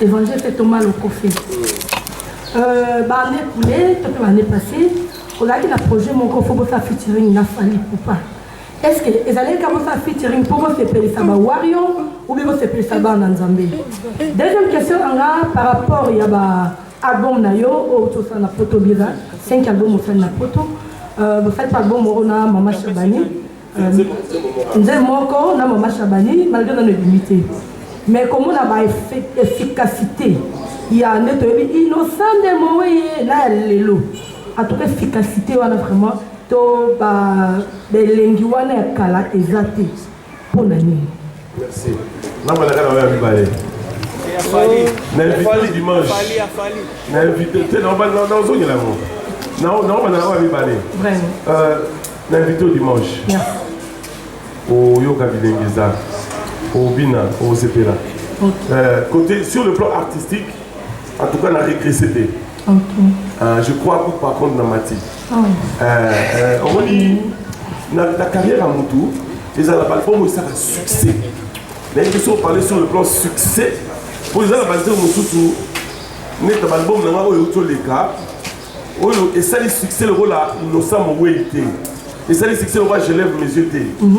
Évangile Thomas Lokofe. Euh, ba année coulée, to pe ba année passée, ozalaki na projet moko faut bosala featuring na Fally Ipupa. Est-ce que ezalaki ka bosala featuring mpo bosepelisa ba Wario ou bien bosepelisa bana Nzambe? Deuxième question na nga par rapport ya ba album na yo oyo tosala na poto bira 5 album osali na poto euh, bosali mpe album moko na mama Shabani nzembo moko na mama shabani malgre nano ebimi te mais komona ba efficacité ya nde toyebi innocent nde moweye na ya lelo atuka efficacité wana vraiment to ba elengi wana ya kala eza te mpo na nini Merci. Nanga na kana ya mibale. Na invité dimanche. Na invité te na ba na ozongela ngo. Na na ba na ya mibale. Vraiment. Euh na invité dimanche. Merci. Oyoka bilenge eza. Obina, osepela. Okay. Euh, côté sur le plan artistique, en tout cas na régressé te. Okay. Euh, je crois que par contre na mati. Eh, eh, omoni na carrière ya motu ezala balbum esaka succès nayebi biso parle sur le plan succès mpo eza na banzeo mosusu neta balbum na ngai oyo euti oleka oyo esali succès lokola innocent mowei te esali succès lokola je lève mes yeux te mhm.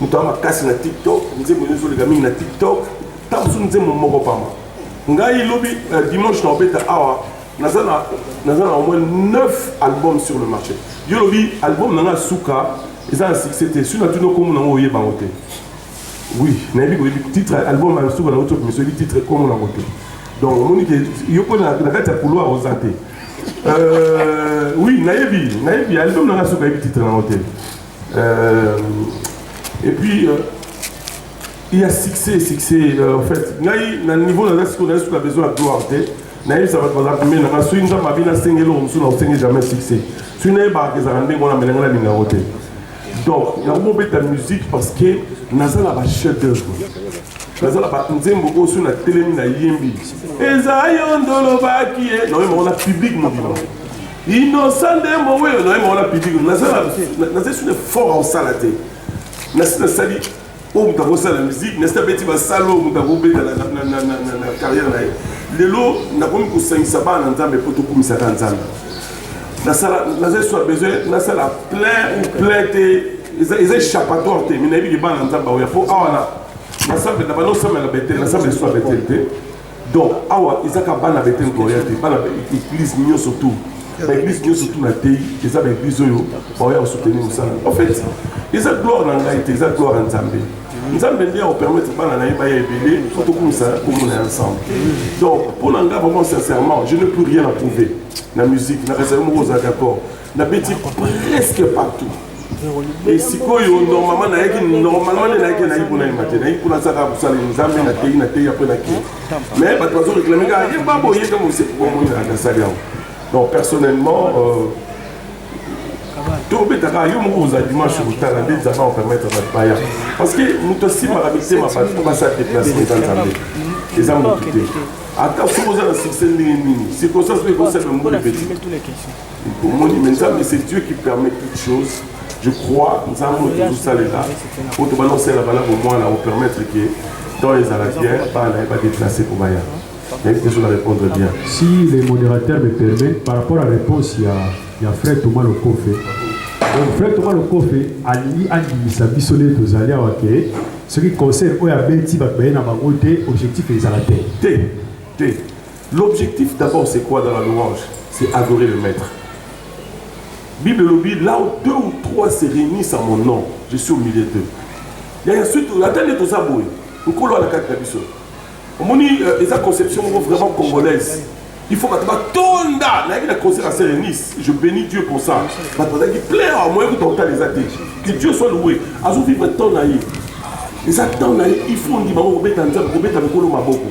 moto ya makasi na tiktok nzembo nyoso oleka mingi na tiktok ntango mosusu nzembo moko pamba ngai lobi euh, dimanche na obeta awa naza na naza na au moins 9 albums sur le marché yo lobi album na ngai suka eza na succès te soki natuni okombo nango oyeba yango te oui nayebi koyebi titre album ya suka nango toki miso oyebi titre kombo nango te donc omoni ke yo mpo na kati ya couloir oza te euh, oui nayebi nayebi album na ngai suka ayebi titre nango te Euh, et puis, euh, il y a succès, succès, euh, en fait. Ngai, na niveau na reste, na reste, na besoin de gloire, te. Na yebisa bato baza pembeni nanga soki nzambe abi nasengi eloko mosusu na osengi jamais succès soki nayebaka ezalaka ndenge wana mele ngai nalinga yango te donc nakomi obeta musique parce que naza na bachef d'œuvre naza na banzembo oyo soki natelemi nayembi eza yo ndolobaki ye naoyemba wana publique mobima Innocent nde mo oyo na yema wana public naza naza sur fort en sala te na sina sali oyo moto akosala musique na sina beti basala oyo moto akobeta na carrière na ye lelo nakomi kosangisa bana na nzambe mpo tokumisaka nzambe nasala naza sur besoin nasala plein ou plein te eza échappatoire te mais nayebi libana na nzambe aoya mpo awa na nasambela bana osambela betele nasambela sur betele te Donc awa eza ka bana Bethel Gloria te, bana église nioso tout. Ba église nioso tout na tei, eza ba église oyo ba oya soutenir musala. En fait, eza gloire na ngai te, eza gloire ya Nzambe. Nzambe nde ako permettre bana na ye ba ya ebele pour to kumisa kombo na ensemble. Donc pour na ngai vraiment sincèrement, je n'ai plus rien à prouver na musique, na reste moko oza d'accord. nabeti presque partout e sikoyo normalement nayaki normalement nde nayaki nayaki mpona yemba te nayaki mpona azaka kosala nzambe nateyi nateyi apres nake mais bato bazo réclame kaka ye babo ye ntango osepomoni nasali yango donc personnellement euh, tobetaka yo moko kozala dimanche kotala nde nzambe akopermettre bato baya parce que moto asimbaka mitema bato po basala deplace eza nzambe eza moto te ata soki oza na succès ndenge nini circonstance mpe ekosala mbula epeti omoni mais nzambe c'est dieu qui permet toute chose je crois nzambe oyo tozosalela oyo tobanda kosalela bana bomwana opermettre ke temps ezala bien bana na ye badeplace mpo baya nayebi te soki arépondre bien si le modérateur me permet par rapport à réponse ya, ya frère thomas lokofe donc frère thomas lokofe alingi andimisa biso nde tozali awa ke soki concert oyo abeti bato baye na bango te objectif ezala te te te L'objectif d'abord c'est quoi dans la louange? C'est adorer le maître. Bible elobi là où deux ou trois se réunissent à mon nom, je suis au milieu d'eux. Ya ya suite ata nde toza boye, nkolo ala kati na biso. Omoni euh, eza conception moko vraiment congolaise. Il faut bato batonda nayaki na concert à Serre Nice. Je bénis Dieu pour ça. Bato bazalaki plein awa moyen kuta kotala eza te. Que Dieu soit loué. Azo vivre temps na ye. Eza temps na ye, il faut ondima ngo kobeta nzambe, kobeta mikolo maboko.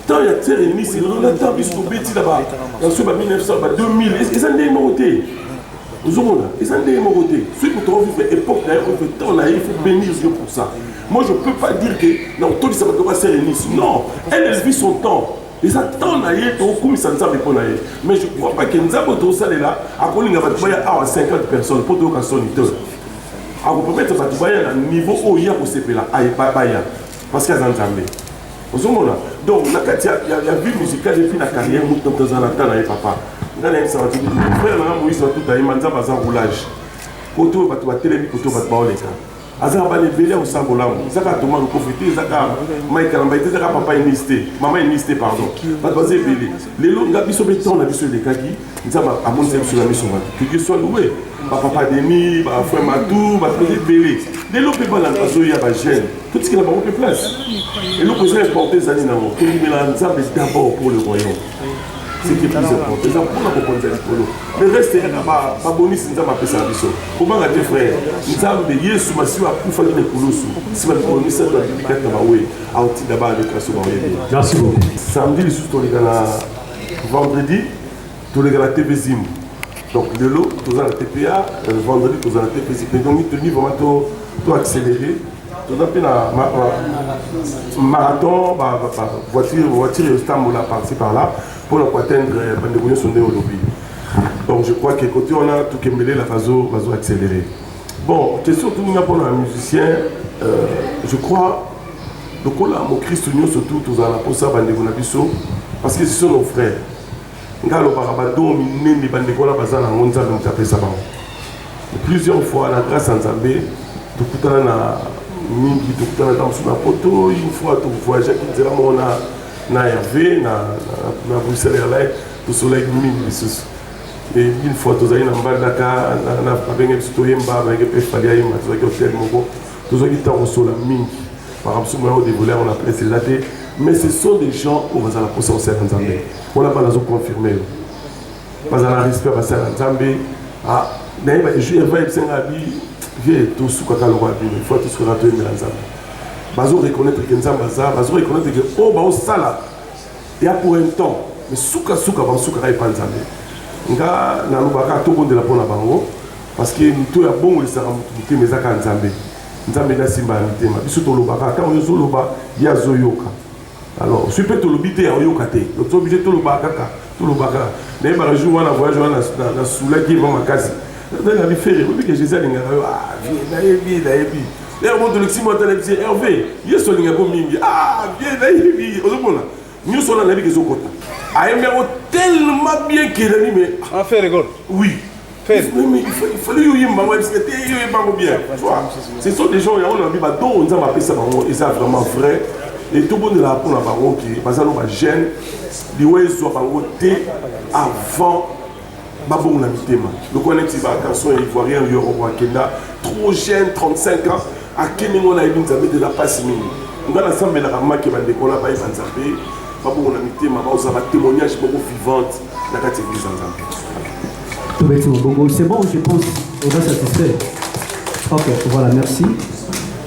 ntango ya terre enisi lelo na ntango biso tobeti na baso ba 1900 ba 2000 eza ndenge moko te ozomona eza ndenge moko te soki moto ovivre époque na ye ovivre temps na ye faut bénir yo pour ça moi je peux pas dire que na kotondisa bato ba sere nisi non elle elle vit son temps eza temps na ye tokokumisa nzambe mpo na ye mais je crois pas que nzambe oyo tokosalela akolinga bato baya awa 50 personnes mpo toyoka soni te akopromettre bato baya na niveau oyo ye akosepela baya parce que aza nzambe ozomona donc na kati ya vie musicale epuis na carrière moto toza na temps na ye papa ngai nayebisa bato frère nanga moïse batuta ye manzambe aza roulage koto oyo bato batelemi koto bato baoleka aza na bana ebele ya kosala bolamu eza kaka toma lokofi te eza kaka mike kalamba te eza kaka papa enisi te mama enisi te pardon bato baza ebele lelo nga biso mpe temps na biso elekaki nzambe amonisa biso na miso bato keke soit loue bapapa deni bafrère matou bato baza ebele lelo mpe bana bazoya bagene totikela bango mpe place eloko eza importe ezali nango tondimela nzambe d'abord pour le royaume seke plus important eza mpona kokonza likolo le reste yaka babonisi nzambe apesa biso kobanga te frère nzambe yesu masiwa akufaki na ekulusu nsima mikolo misato abimi kati na bawe aotinda bana mikasi baoyebi samedi lisusu toleka na vendredi toleka na tv zimbu donc lelo toza na tpa euh, vendredi toza na tpa zipe donc mitoni vraiment to, to accéléré toza mpe na marathon voiture voiture ezotambola parti par là mpo na koatteindre euh, bandeko nyonso nde olobi donc je crois que côté wana tokembelela bazo bazo accéléré bon question toninga mpona na musicien euh, je crois lokola mokristo nyonso tu tozala na mposa bandeko na biso parce que ce sont nos frères Nga alobaka ba don minene ba ndeko wana baza nango nzambe moto apesa bango plusieurs fois na grâce ya nzambe tokutana na mingi tokutana ta mosusu na poto une fois tovoyageaki nzela moko na na herve na, na, na bruxelles airline tosolaki mingi lisusu e une fois tozali na mbandaka babenge biso toyemba bayenge mpe fali ayemba tozalaki hotel moko tozwaki ntango kosola mingi makambo soki moya odevoile yango na presse eza te mais ce sont des gens oyo baza na mposa kosala nzambe wana bana azoconfirme yo baza na respect basala nzambe ah, nayeba ejour eva ebisenga bi vie tosukaka lokola bino fois tosukaka toyembela nzambe bazo reconnaître ke nzambe aza bazo reconnaître ke oyo oh, baosala ya pour un temps mais sukasuka basukaka epa nzambe nga nalobaka tobondela mpo na bango parce que moto ya bongo lisaka moto motema ezaka nzambe Nzambe nde asimba ya mitema. Biso tolobaka ntango yo ozoloba ye azoyoka. Alors soki mpe tolobi te aoyoka te, donc to oblige tolobaka kaka tolobaka. Nayebaka jour wana voyage wana nasulaki ye mwa makasi. Nazali na bifere oyebi ke Jésus alingaka yo ah vie nayebi nayebi lero moto olekisi mwa ata nayebisi Hervé Yesu alingaka yo mingi ah vie nayebi ozomona Nyoso wana nayebi kezo kota. Ayembi yango tellement bien que Remy mais ah fait rigole. Oui. Fait. Mais il faut il faut lui yemba moi parce que te yo yemba ko bien. Tu vois. Ce sont des gens ya on a dit ba do on za ba pesa bango et ça vraiment vrai. Et tout bon de la pour la bango qui bazalo ba gêne. Liwe zo bango te avant babongo na mitema lokola neti bagarçon ya ivoirien yoroko akenda trop jeune 35 ans akimi ngo nayebi nzambe te na mpasi mingi ngai nasambelaka make bandeko na bayeba nzambe babongo na mitema baoza batémoignage moko vivante na kati ya eglise ya nzambe tobeti mobongo c'est bon je pense oza satisfait ok voilà merci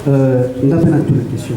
euh, nga mpe natuna question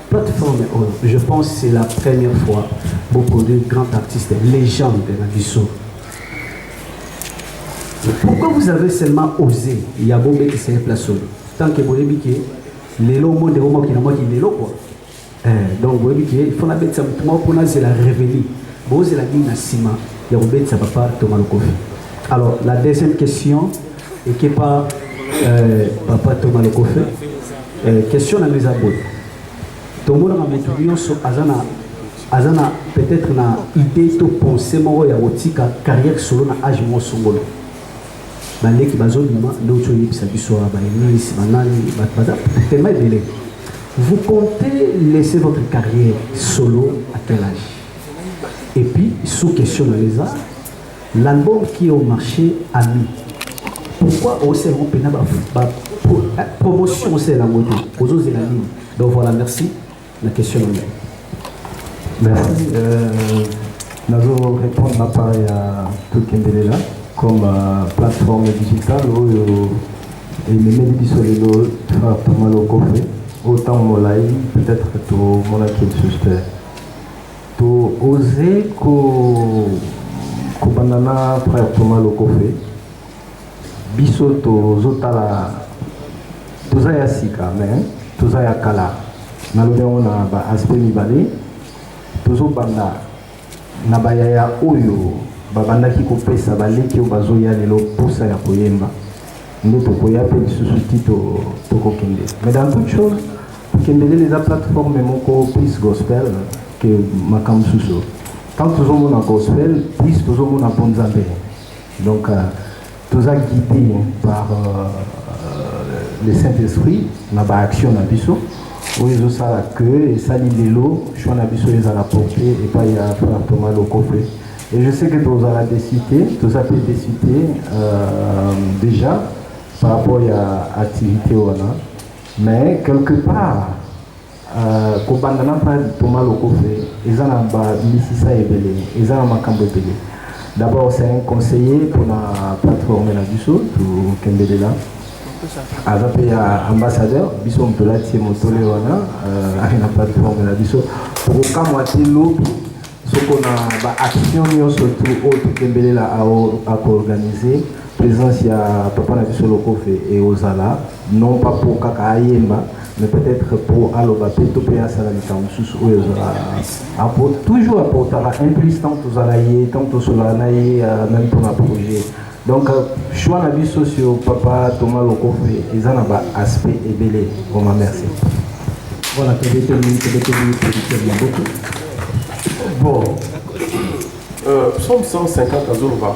Plateforme oyo je pense c'est la première fois bo produire grand artiste légende na biso. Pourquoi vous avez seulement osé ya bo betisa ye place oyo tant que boyebi ke lelo monde yango mokili na mokili lelo quoi. Eh, donc boyebi ke il faut nabetisa motu moko mpo nazela réveli bozela nini na nsima ya kobetisa papa toma lokofi alors la deuxième question Ekepa eh, papa Thomas Lokofe eh, question na eza boye tomonaka motu nyonso aza na aza na peut-être na idée to pensée moko ya kotika carrière solo na age moko songolo baleki bazobima nde oti oyebisa biso awa baeglise banani bato baza tema ebele vous comptez laisser votre carrière solo à quel âge et puis sous question na eza L'album qui est au marche ami pourquoi osala yango mpena ba promotion osala yango te ozozela nini donc voilà merci na question na ngai merci euh, nazo répondre na part ya tokendelela comme euh, plateforme digitale oyo ememeli biso lelo thomas lokofe oyo ntango molai peut-être tomonaki lisusu te To oser ko kobanda na frère Thomas Lokofe biso tozo tala toza ya sika mais toza ya kala nalobi yango na ba aspect mibale tozo banda na bayaya oyo babandaki kopesa baleki oyo bazoya lelo mposa ya koyemba nde tokoya mpe lisusu ti tokokende mais dans toute chose Kendelele eza plateforme moko plus gospel que makambo mosusu. Tant tozomona gospel, plus tozomona mpo Nzambe. Donc euh, toza guidé par euh, le Saint-Esprit na ba action na biso oyo ezosala que esali lelo choix na biso ezala porte epai ya frère Thomas Lokofe. Et je sais que tozala décité, toza mpe décité euh, déjà par rapport ya activité wana Mais quelque part euh, kobanda na pa Thomas Lokofe eza na ba misisa ebele, eza na makambo ebele. D'abord c'est un conseiller pour la plateforme na biso to kendelela. aza mpe ya ambassadeur biso moto olati ye motole wana euh, aye na plateforme na biso tokokamwa te lobi soko na baaction nyonso tu oyo totembelela akoorganize présence ya papa na biso lokofe ekozala non pas po kaka ayemba mais peut-etre po aloba pe to pe asala likambo mosusu oyo ezala po toujours aportaka un plus tant tozala ye tant tosolaka na ye même mpona projet donc choix na biso sur papa thomas lokofe eza na ba aspect ebele vraimen merci voilà tobeteli tobeteli producteur ya boku bon euh, psaume 150 azoloba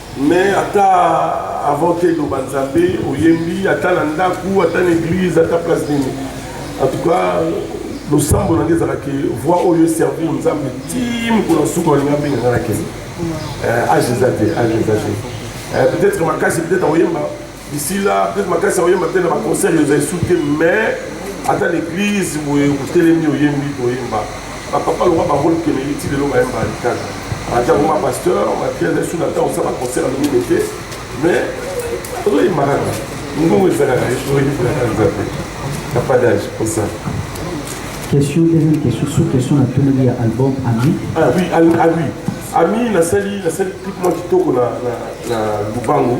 Mais ata avant te loba nzambe oyembi ata na ndaku ata na église ata place nini en tout cas losambo na ngai ezalaka ke voix oyo eservir nzambe ti mokolo nsuka olinga mbenga ngai na kende age eza te age eza te peut-être makasi peut-être akoyemba D'ici là, peut-être makasi oyemba te na ba concert yo zai souke mais ata l'église boye otelemi oyembi koyemba. Ba papa loba ba rôle kene iti lelo ba yemba likana. Ata kuma pasteur, ma pierre na suna ta osala concert na mimi te mais ozoyemba kaka. Ngongo ezalaka oyebi kolaka nzambe. Na pas d'âge pour ça. Question, deuxième question, sous question na toneli ya album Ami. Ah oui, ah oui. Ami nasali nasali clip mwa kitoko na na na Lubangu.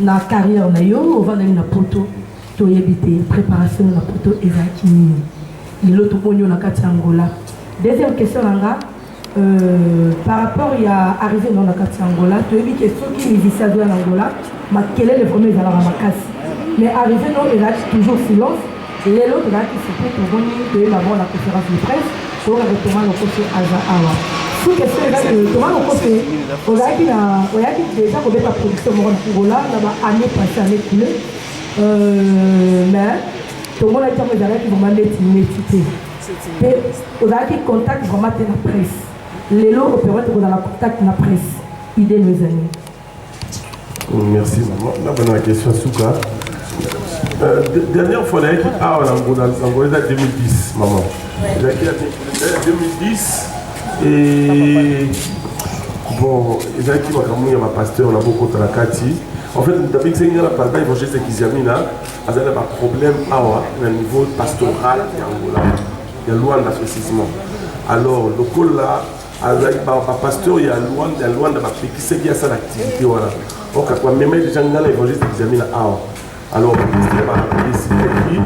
Na carrière na yo ovandaki na poto toyebi te preparation yo na poto ezalaki nini lelo tomoni yo na kati ya angola deuxième question na nga euh, par rapport ya arrivé nao na kati ya angola toyebi ke soki musicien azoya na angola makelele vraimen ezalaka makasi mais arrivé nao ezalaki toujours silence Lelo tozalaki site tomoni toyeba bango na conference de presse toyokaka toma lokoso aza awa suki esika eza ke toma lokoso ozalaki na oyaki deja kobeta production moko na angola na ba année passé année coule euh, mais tomonaki ntango ezalaki vraimen neti neti te mpe ozalaki contact vraimen te na presse lelo operate kozala contact na presse idée no ezali Merci maman. Na bana question suka. Euh, dernière fois nayaki awa na ngona yango eza 2010 maman ezalaki ya 2010 et bon ezalaki makambo ya bapasteur na bokota na kati en fait moto abikisaki nga na papa évangéliste kiziamina azali na baproblème awa na niveau pastoral ya angola ya luanda précisément alors lokola azalaki bapasteur ya luanda ya luanda bapekisaki ye asala activité wana okaka bamema ye deja ngai na évangéliste examina awa alors bapesaka badesidaki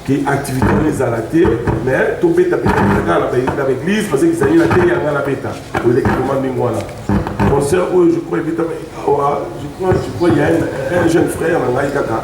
ke activité wana ezala te mais tobeta betakaka na baeglise parce ezali na te ya ngai nabeta oleki koma ndenge wana concert oyo je crois ebetama awa je crois je crois ya un jeune frère na ngai kaka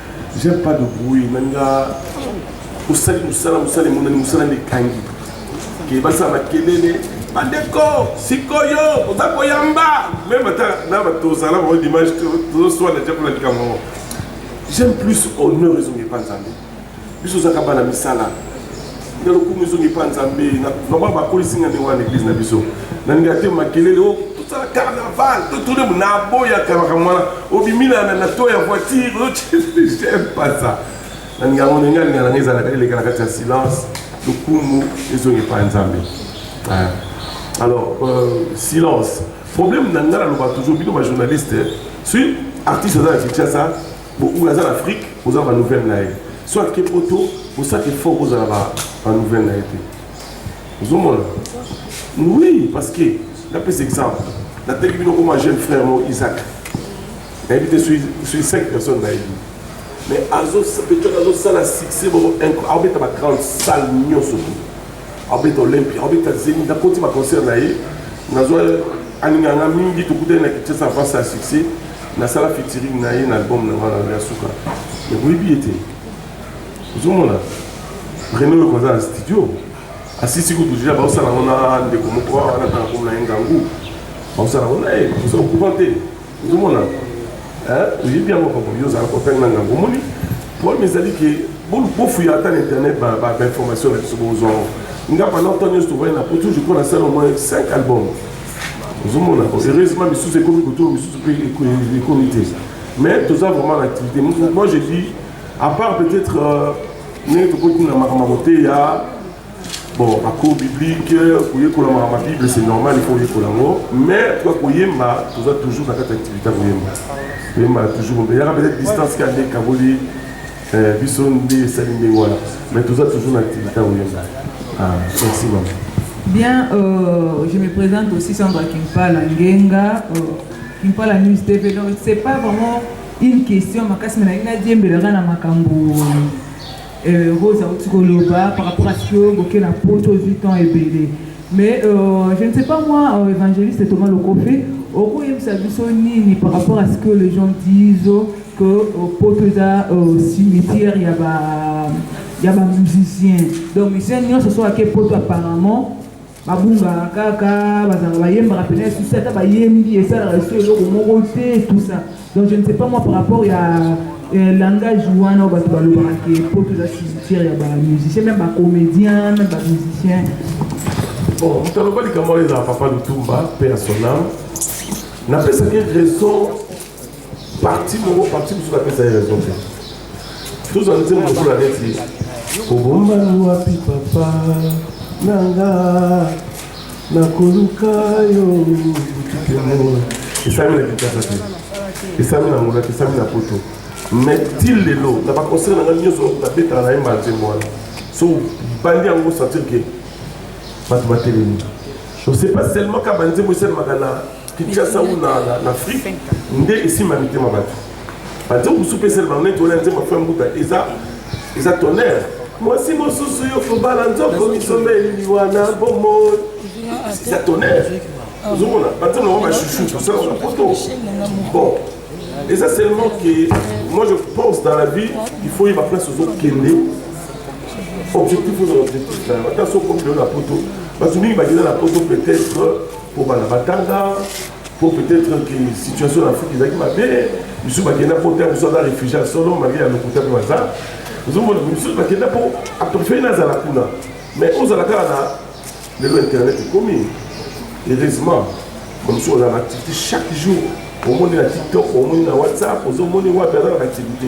J'aime pas de bruit nalinga osali mosala mosala emonani mosala nde ekangi ke basala makelele bandeko sikoyo oza koyamba meme ata na tozala bango dimanche tozoswana te mpona likambo yango j'aime plus honneur ezongi epa nzambe biso ozaka bana misala na lokumu ezongi mpa nzambe vraiment bakolisi nga ndenge wana na eglise na biso nalingaka te makelele o oh, tosala carnaval totole naboyaka makambo wana obimi na to ya voiture j'aime pas ça nalingaka ngo ndenge alingaka nanga ezalaka eleka na kati ya silence lokumu ezongi mpa nzambe alors euh, silence problème na nga naloba toujours bino bajournaliste soki artiste aza na kinshasa Beaucoup aza na Afrique, oza ba nouvelle na ye. Soit ke poto, osa ke fort oza ba ba nouvelle na ye te. Ozomona? Oui, parce que na pesa exemple. Na teki bino comme un jeune frère mon Isaac. Na yebi te suis suis cinq personnes na yebi. Mais azo peut-être azo sala succès bon incroyable. Abeta ba grande salle nyoso. Abeta Olympia, abeta Zenith, na koti ba concert na ye. Na zo alinga nga mingi tokutani na Kinshasa face à succès. Nasala featuring na ye na album na ngai ya suka. Mais boyebi ye te. Ozomona? Reno yo koza na studio. Asisi kutu deja baosala yango na ndeko moko wana tanga komona ye ngangu. Baosala yango na ye. Oza au courant te. Ozomona? Oyebi yango papa yo ozala kopele na ngangu. Omoni? Problème ezali ke bofuya ata na internet ba ba information na biso bozwa yango. Nga pendant temps nyonso tovoyana na poto je crois nasala au moins 5 albums. ozomona ko heureusement misusu ekomi kotour misusu mpe ekomi te mais toza vraiment na activité moi je dis à part peut-être euh, ndenge tokoti na makambo ya koteya bon bacours biblique koyekola makambo ya bible c'est normal il faut oyekola yango mais toka koyemba toza toujours na kati ya activité ya koyemba koyemba toujours yaka peut-être distance kaka nde ekaboli Eh biso nde esali ndenge wana mais toza toujours na activité ya koyemba ah merci mama Bien, euh, je me présente aussi Sandra Kimpala Ngenga, euh, Kimpala News TV. Donc, c'est pas vraiment une question, ma casse, mais la diembe la rana makambo. Euh, Rosa Otikoloba, par rapport à ce que Boké la pote aux 8 ans et belé. Mais euh, je ne sais pas, moi, euh, évangéliste Thomas Lokofé, au coup, il me biso nini par rapport à ce que les gens disent, que euh, poto eza euh, cimetière ya ba ya ba musicien donc musicien nyonso soki ake poto apparemment babungaka kaka bazalaka bayembaka mpena esusi ata bayembi esalaka esu eloko moko te tout ça donc je ne sais pas moi par rapport ya euh, langage wana oyo bato balobaka ke poto eza cimetière ya ba musicien meme bacomédien meme bamusicien bon moto aloba likambo oyo ezala papa lutumba mpe ya sonam napesaki raison parti moko parti mosusu apesa ye raison te tozwa nzembo lokola neti kobombani wapi papa na nga nakoluka yo butukemola esami na kinshasa te esami na ngolaki esami na poto mais ti lelo na baconcert na ngai nyonso nabetaka na ye mbala nzembo wana so bandi yango sentir ke bato batelemi je sais pas seulement ka banzembo esalemaka na Kinshasa ou na, na, na Afrique nde esimba mitema bato banzembo mosusu mpesele bango neti wana nzembo afai mbuta eza eza tonnerre mwasi mosusu yo kobala nzoko misomba elili wana bomoi eza tonnerre ozomona banzembo nango bachouchou tosala na poto bon eza seulement que moi je pense dans la vie il faut yeba place ozokende objectif oza objectif nayo ata soki okende na poto bato mingi bakenda na poto peut-être mpo bana batanga mpo peut-être que situation na afrique ezalaki mabe misusu bakenda mpo te mosusu aza réfugie ya solo malgre ya lokuta mpe baza ozomona misusu bakenda mpo aprefei nazala kuna mais ozala kaka na lelo internet ekomi heureusement bamosusu ozala na activité chaque jour omoni na tiktok omoni na whatsapp ozomoni wapi aza na activité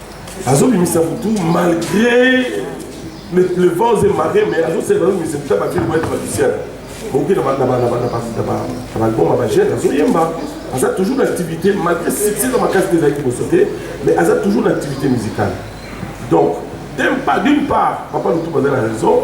azobimisa butu malgré le plevose mare mais azosela azobimisa butu abakeli boyete batisiana boki na balbom ya bajeune azoyemba aza toujours na activité malgré succès na makasi te ezalaki liboso te mais aza toujours na activité musicale donc tempa d'une part papa lutu baza na raison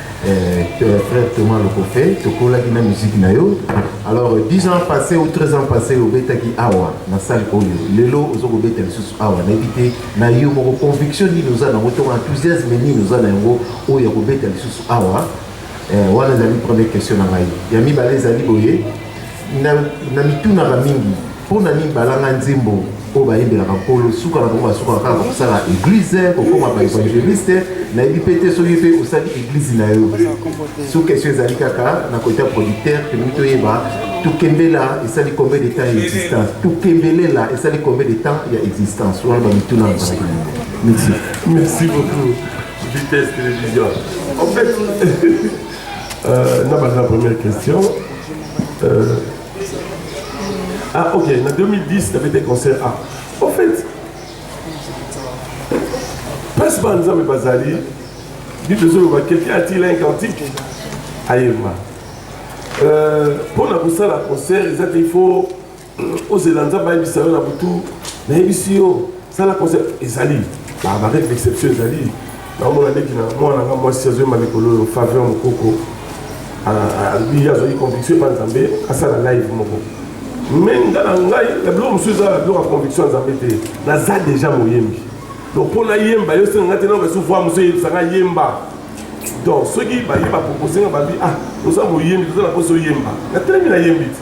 Euh, frère Thomas Lokofe, tokolaki na musique na yo. Alors 10 ans passés ou 13 ans passés obetaki awa na salle oyo. Lelo ozo kobeta lisusu awa na ebite na yo moko conviction nini oza nango to enthousiasme nini oza na yango oyo ya kobeta lisusu awa. Euh, wana ezali première question na ngai. Ya mibale ezali boye Na, na mitunaka mingi mpo na nini balanga nzembo oyo bayembelaka nkolo suka na bango basukaka kaka kosala eglize kokoma baevangeliste nayebi mpe te soki mpe osali eglize na yo so question ezali kaka na kota producteur tolingi toyeba tokembela esali combien de temps ya existence tokembelela esali combien de temps ya existence wana bamituna na bango merci merci beaucoup vitesse télévision en fait Euh, na baza première question euh, ah ok na 2010 na bete concert ah au fait place ba nzambe bazali bible ezoloba quelqu'un a-t-il un cantique ayemba mpo euh, na kosala concert eza te il faut ozela nzambe ayebisa yo na butu nayebisi yo sala conseil ezali bareke d'exception ezali naomona ndeki na mwana nga mwasi azoyemba mikolo oyo faveur mokoko alobi ye azwaki conviction epa nzambe asala live moko me nga na ngai na biloko mosusu eza na biloko ya conviction ya nzambe te naza deja moyembi donc mpo nayemba yo senga nga te nao kasi voi mosusu eyebisa nga yemba donc soki baye bapropose nga babi ah oza moyembi toza na mposa oyemba natelemi nayembi te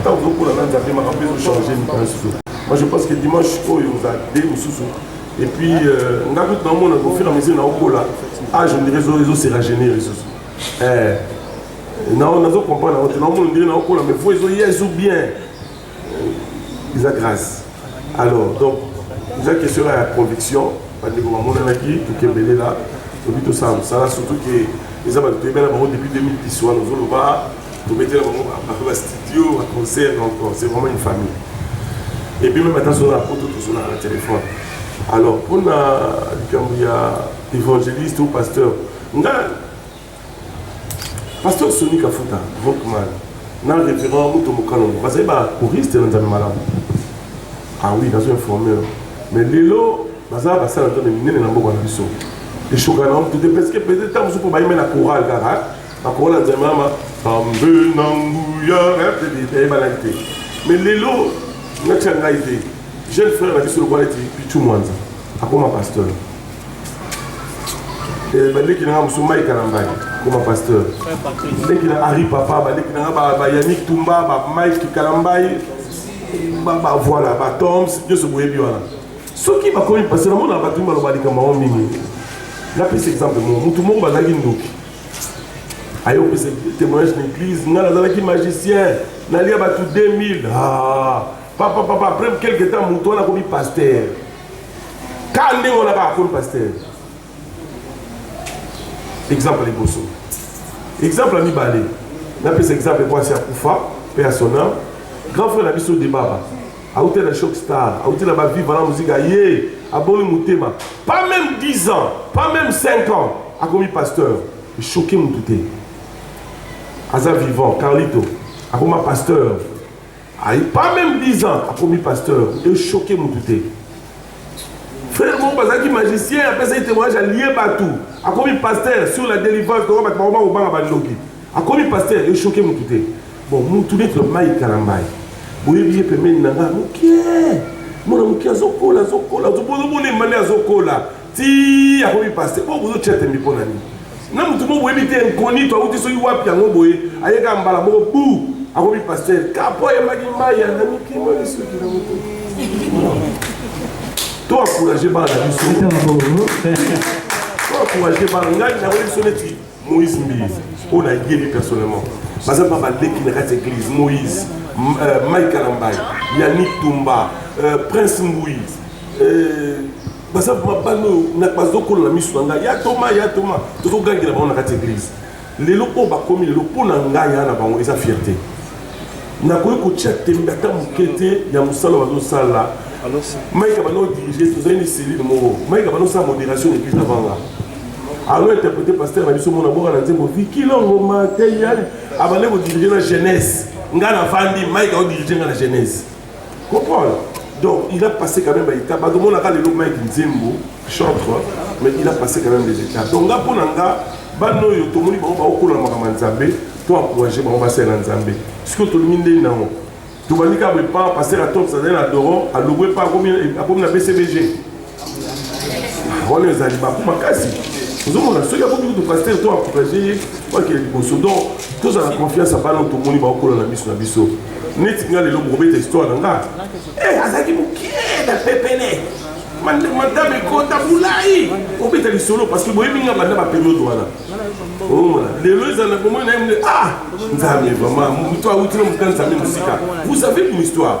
ntango ozokola na nzambe makambo ezo change mitansi to moi je pense que dimanche oyo oza de mosusu et puis euh, nga kutu naomona au fur et à mesure naokola age ah, ondire ezoseragenir lisusu eh, nazo comprendre yango te naomona ondire naokola mais vo ezoya ezo bien eza grâce Alors donc eza question ya conviction bandeko bamonanaki tokembelela tobi tosala mosala surtout ke eza bato toyebela bango depuis 2010 wana ozoloba tobetela bango bape bastudio baconcert donc c'est vraiment une famille et puis même ata soki na poto tozolaka na téléphone alors mpona likambo ya évangéliste ou pasteur nga Pasteur Sony Kafuta, Rockman, na révérend Muto Mukalongo, bazali ba choriste na Nzambe malamu. Ah oui, nazo informer. Mais lelo, baza basala Nzambe minene na mboka na biso. Eshoka na mtu te, parce que peut-être tango supo bayime na chorale kaka, na chorale na Nzambe mama, Tambe na nguya, hein, peut-être ayeba na te. Mais lelo, natia ngai te, jeune frère na biso lokola eti Pichu Mwanza. akoma pasteur eh, baleki na nga mosusu mai kalambani akoma pasteur leki na ari papa baleki na nga bayanik tumba bamike kalambai voilà batoms nyonso boyebi wana soki bakomi pasteur namona bato baloba likambo yango mingi napesa exemple moko motu moko bazalaki ndoki aye opesa témoignage na église ngai nazalaki magicien nalia bato 2000 ah. Papa, papa, après quelque temps, moto wana akomi pasteur. Ka ndenge wana kaka akomi pasteur. Exemple liboso. Exemple ya mibale. Napesa exemple mwasi akufa mpe ya son âme. Grand frère na biso Debaba auti na Shock Star, auti na Baviva na muzika ye aboni motema. Pas même 10 ans, pas même 5 ans akomi pasteur. Choqué moto te. Aza vivant, Carlito akoma pasteur. Ayi pas meme 10 ans akomi pasteur e choquer mutu te. Frère moko bazalaki magicien apesaki témoignage alie batu akomi pasteur sur la délivrance donc batu bakoma kobanga bandoki akomi pasteur e choquer mutu te. Bon mutu neti mai kalambayi boyebi ye pembeni na nga mokie mwana mokie azokola azokola ozobona mbale azokola ti akomi paste po bozo tia tembe mpo na nini na motu mo boyebi te inconito auti soki wapi yango boye ayeka mbala moko bu akomi paster kapo ayembaki maya na mikimo lisuki na motu to encourage bana na biso to encourage bana ngai nakoyebi so neti Moïse Mbiye, oyo nayebi personnellement, baza mpa baleki na kati ya eglise. Moïse, euh, Mike Kalambaye, Yannick Tumba, euh, Prince Mbuyi, euh, baza mpa bana oyo bazokola na miso na ngai, ya Toma, ya Toma, tozogangela bango na kati ya eglise. lelo oyo bakomi lelo mpo na ngai aa na bango eza fierté nakoki kotya tembe ata moke te ya mosala bazosala maika bana odirige tozali ni selile moko maika bana osala modération depuis avanga alo interprété pasteur na biso mona boka na nzembo vikilongo mateya abande kodirige na jeunesse ngai navandi maika odirige ngai na jeunesse Comprendre? Donc il a passé quand même ba étapes. Bato mona ka lelo Mike Nzembo chantre mais il a passé quand même des étapes. Donc nga pona nga bana oyo tomoni bango baokola makambo ya Nzambe to encourager bango basalela Nzambe. Sikoyo tolingi ndenge na yango. Tobandi kaka boye pa pasteur atomsa azali na Doron alobwe pa akomi na BCBG. wana ezali baku makasi ozomona soki akoki kutu pasteur to encourage ye bakele liboso donc tozala confiance ya bana oyo tomoni baokola na miso na biso neti nga lelo bokobeta histoire na nga eh, azalaki mokie na pepele madame ekota bulai obeta lisolo parce que boyebi nga banda baperiode wana omona oh, lelo ezala na bomoi na ye mde ah nzambe vraiment moto awuti na moto na nzambe mosika vous savez une histoire